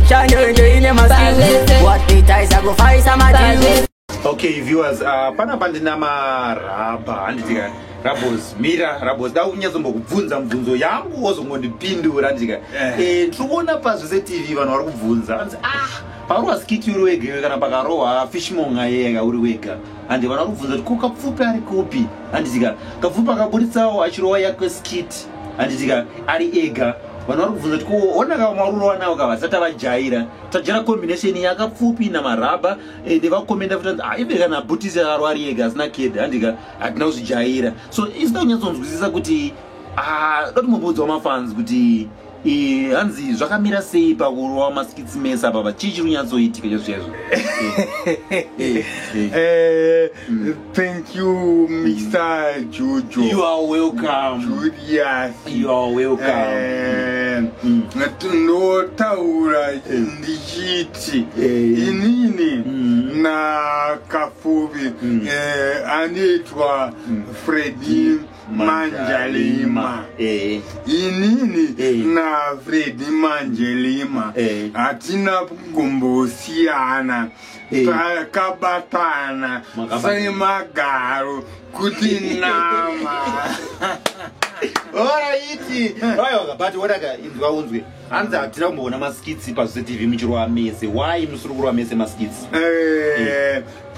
chanyenje ine maskills watitaisa kufaisa madili okay viewers uh, panapa ndina marabha handiti kani rabos mira rabos da unyatsombokubvunza mubvunzo yangu wozongondipindura handiti kani eh. eh, ndiri kuona pazvese tv vanhu vari kubvunza anzi ah parowa skiti uri wega kana pakarohwa fishmonga yega uri wega handi vana kubvunza kuti ko kapfupi ari kupi handitika kapfupi akaburitsawo achirova yake skit handitika ari ega vanhu vari kubvunza kuti ko ona ka marurova nawo ka vasati avajaira tajaira combination yakapfupi namarabha ende eh, vakomenda futi ah, ive kana bhutisi akarova ari ega asina ked handika hatina kuzvijaira so isina kunyatsonzwisisa kuti ah, doti mumbuudzwa mafans kuti Eh, hanzi zvakamira sei pakurova maskits mese apapa chii chiri kunyatsoitika chazviyazvo eh, eh, mm. thank you mr jojo you are welcome julius you are welcome mm. ndinotaura mm. ndichiti inini mm. nakafuvi mm. eh, anoitwa mm. fredi mm. manjalima eh. inini eh. nafredi manjelima eh. hatina kumbosiyana takabatana semagaro kuti nama oraiti aiwa but wodaka inzwa unzwe hanzi hatina kumboona maskitsi pazvitv muchirova mese why musiri kurova mese maskitsi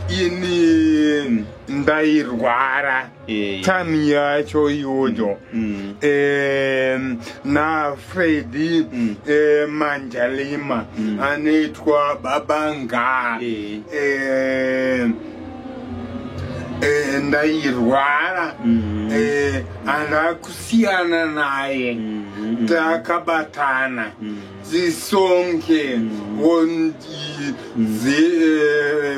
ini ndairwara Eh. time yacho iyoyo Mm. Em, nafredi Mm. eh, manjalima Mm. anoitwa baba ngaa Eh. Em, eh, ndairwara Mm. Eh, ana kusiyana naye Mm, mm, mm. takabatana Mm. zisonge Mm. wondi zi- eh,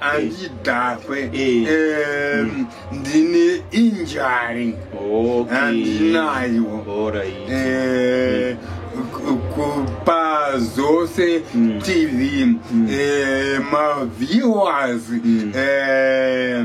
andidhakwe Eh. Em, ndine injury Okay. andinayo Alright. Eh, ku- kupa zose Mm. tv Mm. eh, maviewers Mm. eh,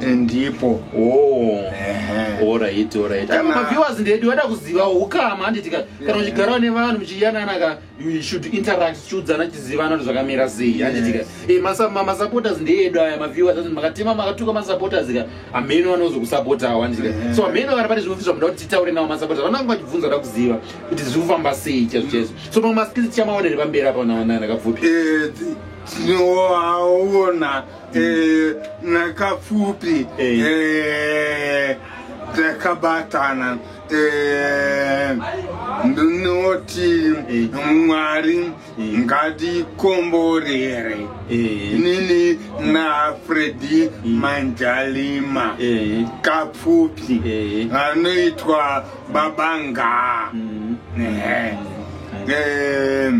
ndipo orit oh. orit maviewers ndedi vada kuziva ukama handiti ka kana uchigarawo nevanhu muchiyanana ka you should interact chiudzana chizivana kuti zvakamira sei handiti ka e masupporters ndeedu aya maviewers ati makatema makatuka masupporters ka amheno vanozokusapotawo handiti ka so amheno vari pane zvimufi zvamuda kuti titaure nawo masupporters vanange vachibvunza da kuziva kuti zviri kufamba sei chazvo chazvo so mamwe maskills chamaonere pamberi apa nawanana kabvupi eh, tinoaona Eh, nakapfupi Eh. Eh, takabatana Eh, ndinoti Eh. mwari Eh. ngatikomborere Eh. nini na fredi manjalima Eh. kapfupi Eh. anoitwa babanga Mm. Eh. Eh,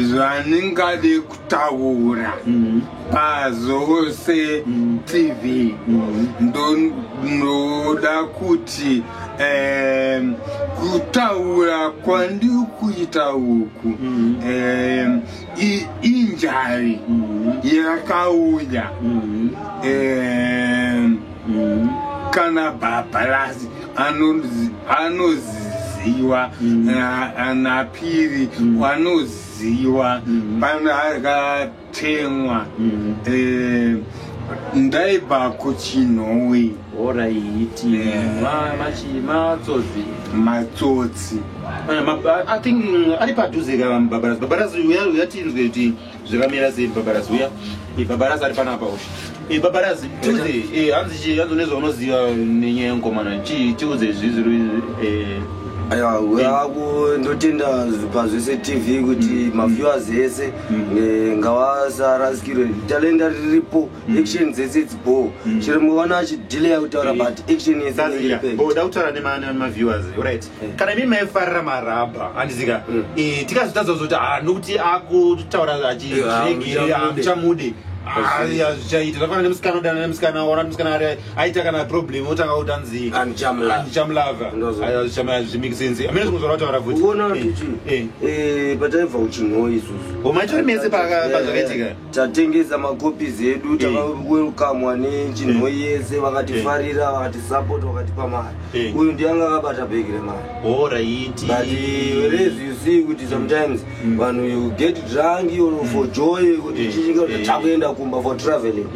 zvandingade kutaura mm-hmm. pazose mm-hmm. tv mm-hmm. ndoda kuti kutaura kwandiri kuita uku injari yakauya mm. kana bhabharazi anoziziwa mm. anapiri mm. anoziwa mm. pano akatemwa mm. eh, ndaibva kuchinhowi oraiti eh. matsotsi matsotsi eh, i think mm, ari padhuze ka bhabharazi bhabharazi uyatinzwe kuti zvakamira sei babarazi uya ibabarazi ari panapa usha ibabarazi tiudze hanzi chii hanzi unezvaunoziva nenyaya yenkomana chii tiudze zvizviri ndotenda pazvese tv kuti mm. maviewers mm. ese mm. eh, ngavasarasikirwe talenda riripo action dzese dzibo chero mwana achidileya kutaura but action yeseoda kutaura nemaviewers right mm. kana imi maifarira marabha handizika mm. e, tikazotadza kuzoti ha ah, nokuti akutaura achiregeamuchamude eh, hazvichaita zvafana nemusikana odana nemusikana ona musikana ari aita kana problem otanga kuti anzi andichamulava hazvimakesense amene zvimwe zvavataura futi eh, eh. eh, pataibva kuchinhoi isusu omaitori mese pazvakaitika tatengesa macopies edu takawelkamwa nechinho yese vakatifarira vakatisupport vakatipa mari uyu ndiye anga akabata bhegi remari but whereas you see kuti sometimes mm. vanhu you get drunk or for joy kuti chichinga kuti takuenda kumba for traveling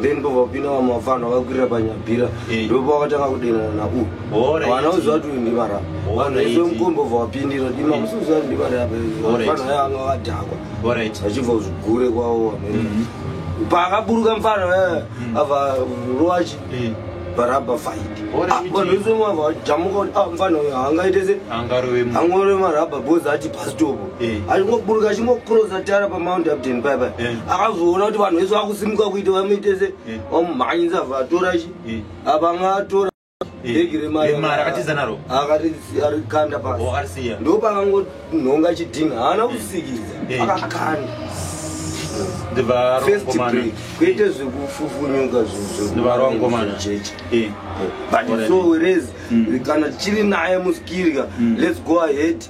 then pavapinda vamwe vafanhu vakakwirira panyabhira ndopo vakatanga kudenana naku vana uziva kuti uyu ndivarapa vanhu vese mukombo vavapindira dimamusiuziva kuti ndivarapa vanhu vaya vanga vakadhakwa Alright. Vachibva kuzvigure kwavo vamene. Mhm. Paakaburuka mfana eh, Mm. ava ruwachi Eh, baraba fight. Ore Ah, miti. Vanhu vese vava vajamuka kuti ah mfana uyu haangaite se angarove mu- angore marabha bhozi ati pasitopo Eh. achingoburuka achingokrosa tara pamount upton pai pai Eh. akazoona kuti vanhu vese vakusimuka kuita vamuite se Eh. vamumhanyisa vatora chi Eh. apa anga atora bhegi remari akatiza naro akarikanda pasi ndopakangonhonga chidhinha haana kusikidza akakanda kwete zvekufufunyuka zvizovaroakomajeje but so whereas kana tichiri naye muskirya let's go ahead